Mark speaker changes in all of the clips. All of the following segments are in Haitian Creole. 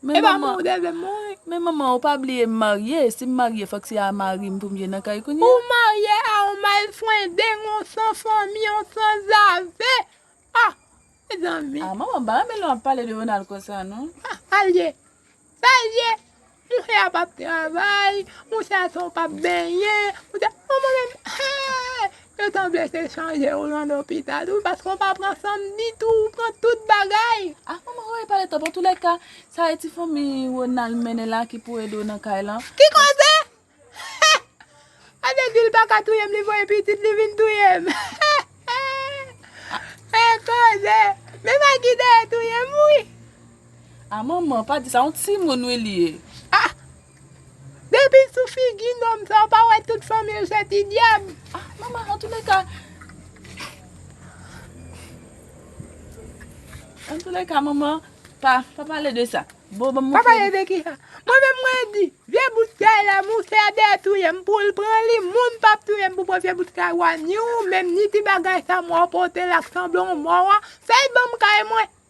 Speaker 1: E pa moun ou
Speaker 2: te vle mouri. Men
Speaker 1: manman ou pa
Speaker 2: bliye m marye, si m marye fòk se a mari m pou m vye nan kay kounye a. Ou marye a
Speaker 1: on malfwendeng, on san fanmi, on sanzave. Ah! Mezanmi. Ah manman pa renmen lè wap
Speaker 2: pale de Ronald konsa non. Ah sa l ye.
Speaker 1: Sa l ye. Mouche a pap travay, mouche a se yon pap benyen, mouche a, manman menm hee! Yo ta blese chanje ou lan lopital wi paske ou pa pran sanm ditou ou pran tout bagay. Ah manman Roro e pale
Speaker 2: twòp antoulèka sa e ti fanmi Ronald mennen la ki pou ede w nan kay lan. Ki koze?
Speaker 1: Ade dil paka touyem li voye pitit li vin touyem e koze men Maggie dèyè touyem wi. Ah
Speaker 2: manman pa di sa yon timoun wi li ye.
Speaker 1: Depi sou figi nonm sa ou pa wè tout fanmil se ti dyab. Ah mama
Speaker 2: antoulèka Antoulèka mama pa pa pale de sa bon banm montre nou. Pa pale de kisa?
Speaker 1: Mwen menm mwen di vye bout kay la mousè a dèyè touyem poul pran li moun pap touyem pou pran vye bout kay wa ni ou menm ni ti bagay sa mwa ou pote la k sanble yon mò wa fèy banm kay mwen.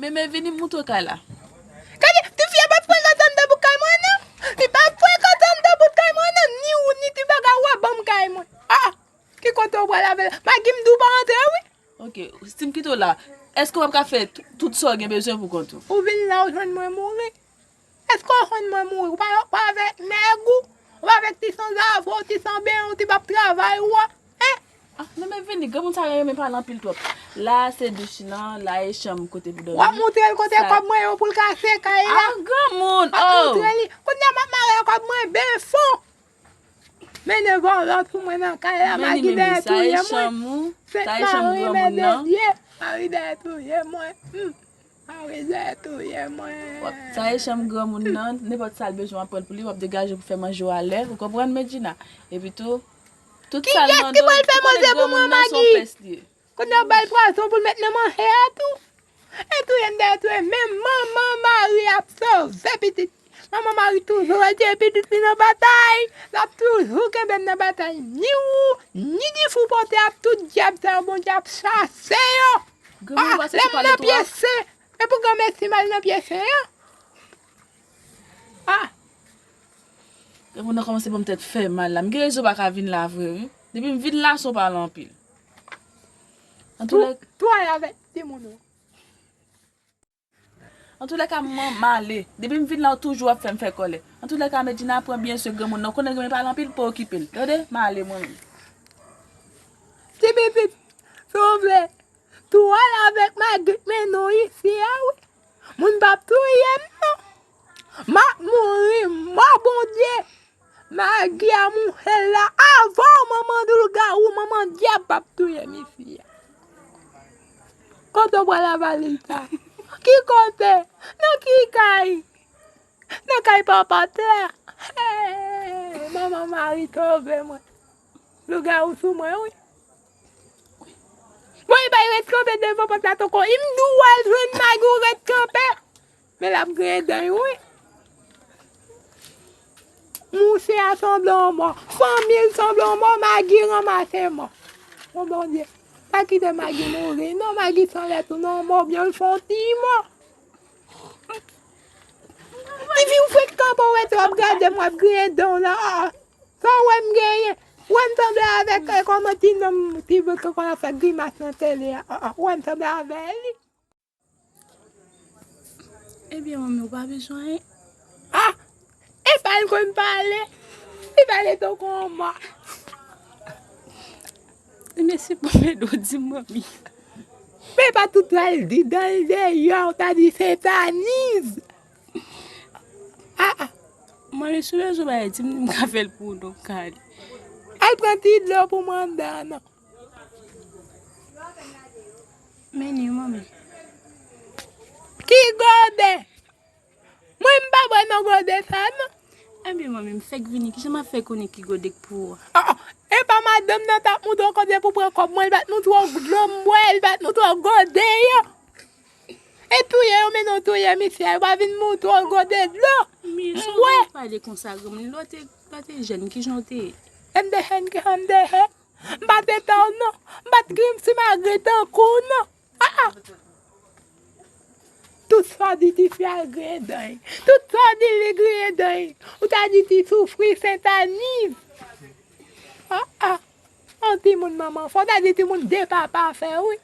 Speaker 1: Meme vini moutre
Speaker 2: kay la. Gade,
Speaker 1: tifi a pap pran kantan andan bout kay mwen nan. Li pap pran kantan andan bout kay mwen nan. Ni ou ni ti bagay ou a banm kay mwen. Ah! Ki kote ou pral avèl? Magi m di ou pa antre wi. Ok, si m kite w
Speaker 2: la, èske w pap ka fè tout sa w gen bezwen pou kont ou? Ou vin la ou jwenn
Speaker 1: mwen mouri. Eske w konn mwen mouri? Ou pa avèk nèg ou? Ou pa avèk ti sanzave w, ti sanben w, ti bab travay ou a? Hein? Ah non men vini,
Speaker 2: granmoun sa renmen pale anpil twòp. La a se douch lan, la e chanm kote pou dòmi. Wap moutre l kote kòb
Speaker 1: mwen yo pou l ka se kay la. Ah granmoun oh! Wap
Speaker 2: moutre li. Kounye
Speaker 1: a map
Speaker 2: mare
Speaker 1: a kòb mwen ben fon. Mennen vòlò sou mwen nan kay la, Magi dèyè touye mwen.
Speaker 2: Sa
Speaker 1: e
Speaker 2: chanm ou? Sa e chanm granmoun
Speaker 1: nan?
Speaker 2: Mari dèyè
Speaker 1: touye mwen. Marise touye mwen. Wap taye chanm
Speaker 2: granmoun nan, nenpòt sal bezwen wap pranl pou li, wap degaje pou fè manje ou alè, ou konprann Medjina? Epi tou, tout sal Kiyès ki mandon, pral fè ou konnen manje
Speaker 1: pou granmoun mwen nan son Magi? pès li ye. Kounye a ou bal pwason poul met nan manje a tou? E touyem dèyè touyem men manman Marie ap sove pitit. Manman Mari toujou rete pitit li nan batay, l ap toujou kenbe m nan batay. Ni ou, ni Difou pote ap tout dyab sa yo Bondye ap chase yo. Ah, lè m nan pye sen, e pou granmesi m al nan pye sen an? Ah.
Speaker 2: Depi w nan kòmanse banm tèt fèmal la, m gen rezon pa ka vin la vre wi. Depi m vin la son pale anpil. Antouka. Tou ale avèk timoun
Speaker 1: ou.
Speaker 2: Antoulèka mwen male. Depi m vin la ou toujou ap fè m fè kòlè. Antoulèka Medjina pran byen swe granmoun nan ou konnen granmoun yo pale anpil pa okipe l tande m ale mwen menm. Ti
Speaker 1: pitit si w vle tou al avèk Magrit men nou isi a wi moun pap touye m non m ap mouri mò Bondye. Maggie a mouche la avanw manman lougarou manman diab pap touye mi fia kote ou pral avali'l sa ki kote nan ki kay nan kay papa terre hee manman Marie sove mwen lougarou sou mwen wi bon e bay ret kanpe devan pot la tonkoy m diw al jwenn Maggie ou ret kanpe. Men lap griyen dan yo wi. Mouse a sanble yon mò. Fanmi l sanble yon mò. Magi ranmase mò. O Bondye. Pa kite Magi mouri non. Magi san lè tounen yon mò oubyen l fè yon ti mò. Tifi ou fenk kanpe ou rete w ap gade m w ap griyen dan w la. Sa w wè m genyen? Ou wè m sanble avèk kòman ti nonm ti vre ki konn ap fè grimas nan tele a? Ou wè m sanble avè li?
Speaker 2: Ebyen manmi ou pa bezwen anyen. Ah!
Speaker 1: E pa l konn pale. Li pale tankou yon mò.
Speaker 2: Mesi pou èd ou di m manmi. Men e
Speaker 1: pa tout sa l di dan l deyò ou ta di se taniz. Ah!
Speaker 2: Manmi si w bezwen bagay di m m ka fè l pou ou non kale.
Speaker 1: Al pran ti dlo pou mandan non.
Speaker 2: Menu manmi.
Speaker 1: Ki gode? Mwen m pa bwè nan gode sa non. Anbyen manmi m
Speaker 2: fèk vini ki jan m ap fè konnen ki gode k pou ou? A a, e pa
Speaker 1: madanm nan t ap mande w konbyen pou pran kòb mwen l bat nou twò dlo m bwè, l bat nou twò gode yo. E touye yo mennen w touye misye a, yo pa vin mou twò gode dlo m bwè. Pale
Speaker 2: konsa granmoun, lè w te jèn ki jan w te ye? MDHN
Speaker 1: ki jan m te ye? M pa te pè w non. M pa t gen yon ti magre tankou w non. Aa! Tout sa w di tifi a griyen dan l. Tout sa w di li griyen dan l. Ou ta di ti soufri Sentaniz. Aa! Yon timoun manman fè w. Ou ta di timoun de papa fè w wi.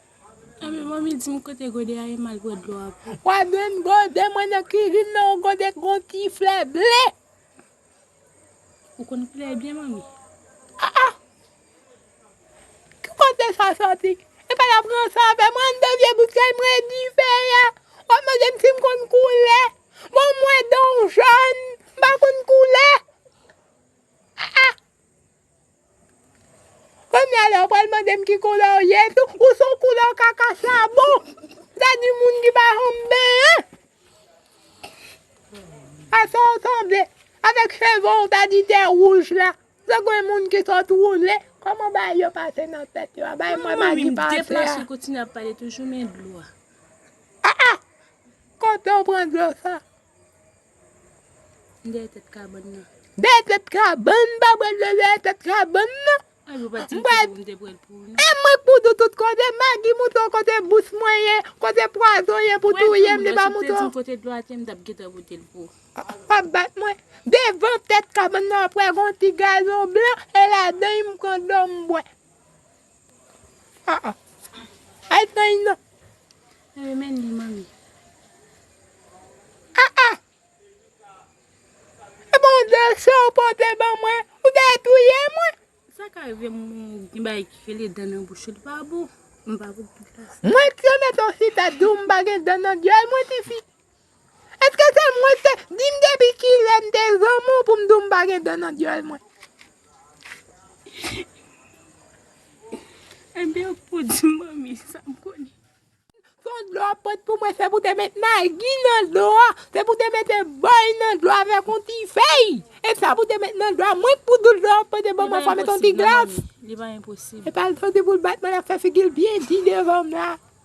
Speaker 1: Anben manmi
Speaker 2: di m kote gode a ye m al pran dlo a pou w. Wa jwenn
Speaker 1: gode mwen nan kizin nan yon gode k gen yon ti flè ble.
Speaker 2: Ou konn koulè a byen manmi. Ah ah!
Speaker 1: Ki kote sa soti? Epa yap ranse avè mwen an de vye bout kay mwen e dife a. Wap mande m si m konn koule. Bon mwen donw jòn, m pa konn koule. Ah ah! Kounya la ou pral mandem ki koulè ou ye tou, ou son koulè kaka chabon, sa di moun ki pa janm benyen. A sa ou sanble, avèk cheve ou ta di te wouj la, se gwen moun ki sot woule, kòman bagay yo pase nan tèt yo a, bay mwen magi pase
Speaker 2: a.
Speaker 1: Kote ou pran dlo sa?
Speaker 2: Dèyè tèt kabann nan. Dèyè tèt
Speaker 1: kabann nan. Pa pral dèyè tèt kabann nan. Ay ou pa di
Speaker 2: m ki bò m te pral pou ou non. E mwen k pou dou tout
Speaker 1: kote. Magi mouton kote bous mwen ye. Kote pwazon ye pou touye m li pa mouton. Ou pa di m si w te di m kote dlo a te m t ap
Speaker 2: gentan pote l pou ou. Ou pa bat
Speaker 1: mwen. Devan tèt kabann nan wap wè gon ti gazon blan e ladan y m pran dlo m bwè. Ah ah. Ay Thaï nan. Mwen renmen
Speaker 2: li manmi. Ah
Speaker 1: ah. E bon de sa ou pote ban mwen. Ou te touye mwen. Sa ka rive
Speaker 2: moun gen bagay ki rele dan nan bouch yo li pa bon. Mwen pa pou. Mwen t remet
Speaker 1: on chita di w m pa gen dan nan dyòl mwen tifi. Eske se mwen se, dim depi kilè m te zanmi w pou m di w m pa gen dan nan dyòl mwen.
Speaker 2: Anben w pou di m manmi sa m konnen. Son dlo
Speaker 1: w ap pot pou mwen se pou te met magi nan dlo a, se pou te mete bòy nan dlo a avèk yon ti fèy, e sa pou te met nan dlo a, mwen k pou di w dlo w ap pote ban mwen fò met yon ti glas. Li pa enposib non manmi,
Speaker 2: li pa enposib. Epa l santi pou l
Speaker 1: bat mwen l ap fè figi l byen di devan m la.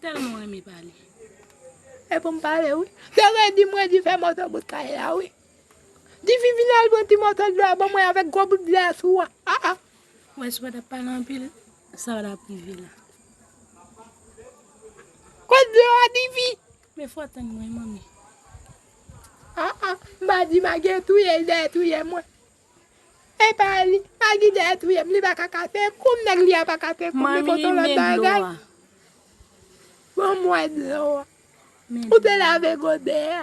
Speaker 1: Telman renmen
Speaker 2: pale. E
Speaker 1: poum pale wi. Te redi m redi fè moto bout kay la wi. Difi vin al pran ti moso dlo a ban mwen avèk gwo bout dlo a sou an. Ah ah. Wè
Speaker 2: si pa tap pale anpil sa pa tap rive la.
Speaker 1: Kot dlo a Difi? Men fò tann mwen
Speaker 2: manmi. Ah ah.
Speaker 1: M pa di ma gen touyel dèyè touyè mwen. Epa li pa gin dèyè touyem li paka kase koum nèg li a pa kase koum li pote yon lòt bagay banm wè dlo a ou te lave godè a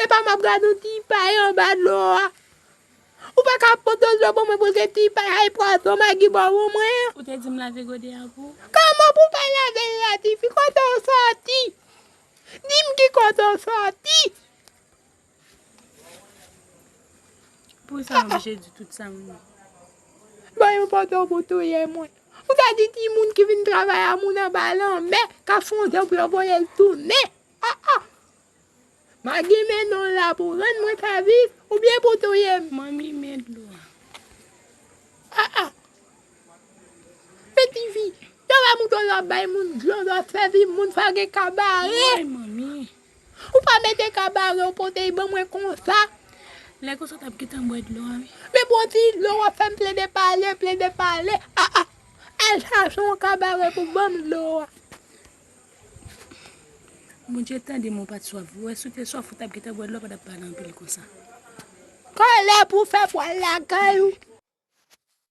Speaker 1: epa map gad yon ti pay anba dlo a ou paka pote dlo pou mwen pou se ti pay ay pwason magi bò pou mwen an ou te dim lave
Speaker 2: godè a pou ou kòman pou pa
Speaker 1: lavel la tifi kote ou sòti dim ki kote ou sòti
Speaker 2: Poukisa m oblije di tout sa m di?
Speaker 1: Ban yon pòdò pou touye mwen. Ou ta di ti moun ki vin travay a moun anba lanmè k ap fon dan pou yo voye l tounen. A a! Magi men non la pou rann mwen ka viv oubyen pou touye m? Manmi
Speaker 2: men
Speaker 1: dlo a.
Speaker 2: A
Speaker 1: a! Men ti fi, lè w wè mouton yo ap bay moun dlo, yo ap sèvi moun, fò gen kabare. Woy manmi!
Speaker 3: Ou pa mete
Speaker 1: kabare ou pote y ban mwen konsa. Lè konsa w
Speaker 3: tap gentan bwè dlo a wi. Men bon ti
Speaker 1: dlo wap fèm plede pale, plede pale ah ah Al chache yon kabare pou banm dlo a.
Speaker 3: Bondye tande mwen pat swaf vre. Ou wè si w te swaf ou tap gentan bwè dlo a ou pa tap pale anpil konsa.
Speaker 1: Kòlè pou fè pwal lakay ou.